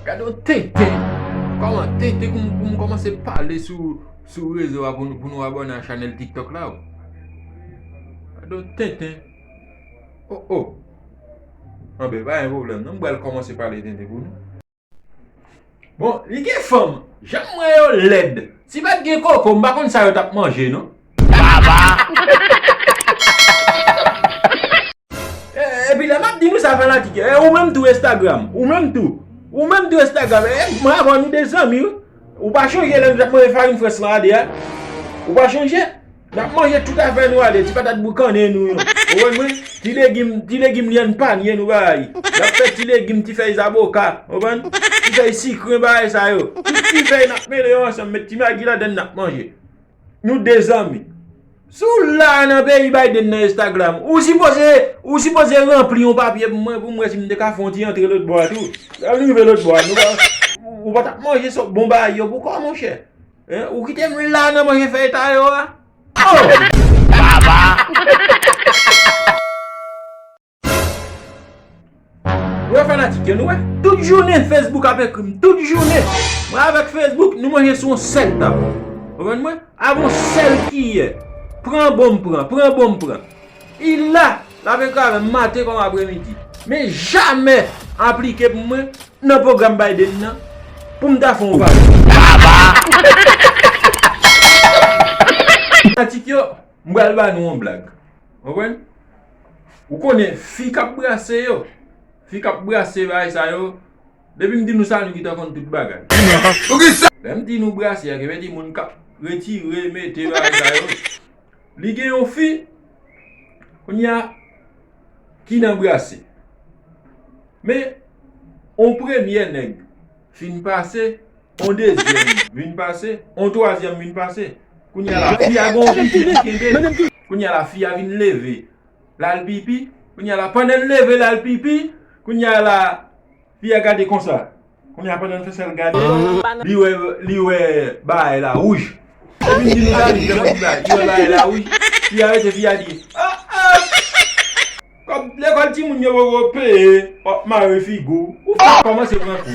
Gade yon tenten! Koman tenten pou m komanse pale sou rezo a pou nou abòne a chanèl tiktok la o? Gade yon tenten! O o! Anben, pa gen pwoblèm non, m pral komanse pale tenten pou nou. Bon, li gen fanm! Janm wè yo lèd! Si pa t gen koko, m pa konn sa yo t ap manje non. Epi lè map di nou sa fanatik yo, e ou menm tou Instagram, ou menm tou, ou menm tou Instagram, e mwen avèw nou de zanmi wi, ou pa chonje lè nou tap manje farin frans lan a 2 a, ou pa chonje, nap manje tout afè nou a 2, ti patat boukannen nou yo, ou wè mwen, ti legim, ti legim lyann panye nou bay, nap fè ti legim, ti fèy zaboka, ou wè mwen, ti fèy sikren bay sa yo, tout ti fèy nap mele yo ansanm, met ti magi ladann nap manje. Nou de zanmi. Si w la nan peyi Biden nan Instagram, ou sipoze ou sipoze ranpli yon papye pou mwen pou m wè si m te ka fè yon ti antre lòt bò a tou. Lè nou rive lòt bò a, nou pa ou pa t ap manje sòk bon bagay yo poukò monchè? Ou kite m la nan manje fèyton yo a? Baba! Ou wè fanatik yo nou wè. Tout jounen Facebook ap ekri m. Tout jounen. Mwen avèk Facebook nou manje sou yon sèl tab. Konprann mwen? Avèk yon sèl kiyè. Pran bon m pran. Pran bon m pran. I la. L ap ekri avè m maten kòm aprè midi. Men jamè aplike pou mwen nan pwogram Biden nan pou m ta fè yon vag. Aba! Fanatik yo, m pral ba nou yon blag. Konprann? Ou konnen fi kap brase yo, fi kap brase bagay sa yo, depi m di nou sa nou gintan konn tout bagay. Lè m di nou brase a ki vle di moun kap retire, mete bagay sa yo, li gen yon fi kounye a ki nan brase. Men yon premye nèg. Fin pase, on dezyèm vin pase, on twazyèm vin pase. Kounye a la, fi a gen yon pipi li kenbe l. Kounye a la, fi a vin leve, l al pipi. Kounye a la, pandan l leve, l al pipi. Kounye a la, fi a gade konsa. Kounye a, pandan l fè sa, l gade, li wè, li wè bagay la wouj. Epi m di nou sa, li fè m on ti bagay. Li wè bagay la wouj. Fi a rete, fi a di, A a! Kob lekol timoun yo poko peye wap mare figu ou fek komanse pran kou.